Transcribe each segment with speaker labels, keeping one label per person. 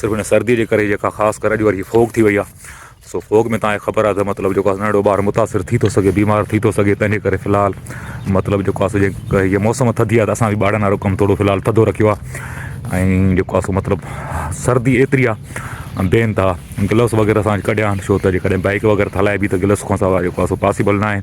Speaker 1: صرف ان سردي جي ڪري جيڪا خاص ڪري اڄ وري فوگ ٿي وئي آ سو فوگ ۾ تانکي خبر آ ته مطلب جيڪو آ ننڍڙو ٻار متاثر ٿي ٿو سگهي بيمار ٿي ٿو سگهي تنهنجي ڪري في الحال مطلب جيڪو آ سو جي موسم ٿڌي آ ته اسان به ٻارن وارو ڪم ٿورو في الحال ٿڌو رکيو آ ۽ جيڪو آ سو مطلب سردي ايتري آ بي انتها گلوس وغيره سان ڪڍيا آن شو ته جي ڪڏهن بائڪ وغيره ته هلائبي ته گلوس کان سواء جيڪو آ سو پاسيبل ناهي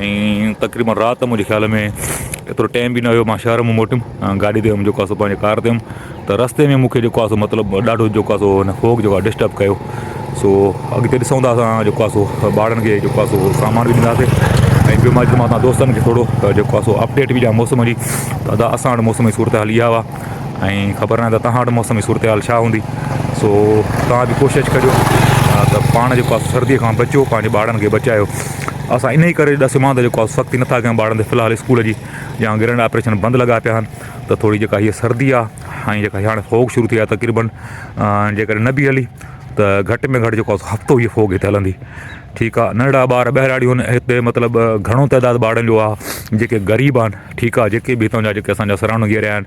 Speaker 1: ۽ تقريبن رات منهنجي خيال ۾ ايترو ٽيم به نه هيو مان شهر مون موٽيم گاڏي تي هيم جيڪو آسو پنهنجي ڪار تي هيم ته رستي ۾ مونکي جيڪو آسو مطلب ڏاڍو جيڪو آسو هن فوڪ جيڪو آسو ڊسٽرب ڪيو سو اڳتي ڏسون ٿا اسان جيڪو آسو ٻارن کي جيڪو آسو سامان به ڏينداسي ۽ ٻيو ماچ ماتا دوستن کي ٿورو جيڪو آسو اپڊيٽ به ڏيان موسم جي ادا اسان وٽ موسم جي صورت حال اها هئا ۽ خبر نه ته تهان وٽ موسم جي صورت حال ڇا هوندي سو تهان به ڪوشش ڪجو ته پاڻ جيڪو آسو سردي کان بچو پنهنجي ٻارن کي بچايو اسان انهيء ڪري ڏسيو مان ته جيڪو آهي سختي نٿا ڪيون ٻارن تي في الحال اسڪول جي يا گرنڊ آپريشن بند لڳا پيا آهن ته ٿوري جيڪا هيء سردي آهي ۽ جيڪا هيء هاڻي فوڪ شروع ٿي آهي تقريبن جي ڪڏهن نه به هلي ته گهٽ ۾ گهٽ جيڪو آهي هفتو هيء فوڪ هتي هلندي ٺيڪ آهي ننڍڙا ٻار ٻهراڙي هن هتي مطلب گهڻو تعداد ٻارن جو آهي جيڪي غريب آهن ٺيڪ آهي جيڪي به هتان جا جيڪي اسان جا سراونڊنگ ايريا آهن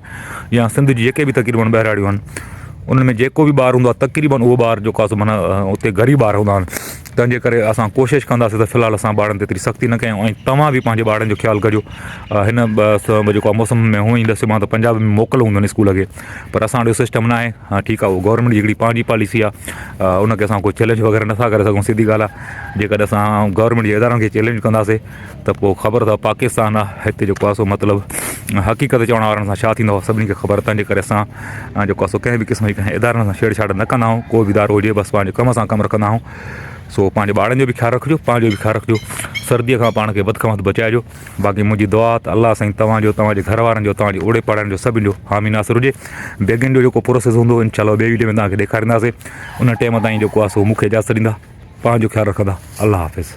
Speaker 1: يا سنڌ جي جيڪي به تقريبن ٻهراڙيون آهن انهن ۾ جيڪو به ٻار هوندو آهي تقريبن اهو ٻار جيڪو آهي سو معنيٰ هتي غريب ٻار هوندا آهن تنهنجي ڪري اسان ڪوشش ڪنداسين ته في الحال اسان ٻارن تي ايتري سختي نه ڪيون ۽ توهان به پنهنجي ٻارن جو خيال ڪجو هن جيڪو آهي موسم ۾ هونئن ئي ڏسي مان ته پنجاب ۾ موڪل هونديون آهن اسڪول کي پر اسان وٽ اهو سسٽم ناهي ها ٺيڪ آهي گورنمينٽ جي هڪڙي پنهنجي پاليسي آهي ان کي اسان ڪو چئلينج وغيره نٿا ڪري سگهون سڌي ڳالهه آهي جيڪڏهن اسان گورنمينٽ جي ادارن کي چئلينج ڪنداسين ته پوء خبر اٿو پاڪستان آ هتي جيڪو آ سو مطلب حقيقت چوڻ وارن سان ڇا ٿيندو سڀني کي خبر تنهنجي ڪري اسان جيڪو آ سو ڪنهن به قسم جي ڪنهن ادارن سان ڇيڙ ڇاڙ نه ڪندا آهيون ڪو به ادارو هجي بس پنهنجي ڪم سان ڪم رکندا آهيون سو پنهنجي ٻارن جو به خيال رکجو پنهنجو به خيال رکجو سرديء کان پاڻ کي وڌ کان وڌ بچائجو باقي منهنجي دعا ته الله سائين تنهنجو تنهنجي گهر وارن جو تنهنجي اوڙي پاڙن جو سڀني جو حامي ناصر هجي بيگن جو جيڪو پروسيس هوندو انشاء الله ٻئي ويڊيو ۾ تنهنکي ڏيکارينداسي ان ٽيم تائين جيڪو آ سو مون کي اجازت ڏيندا پنهنجو خيال رکندا الله حافظ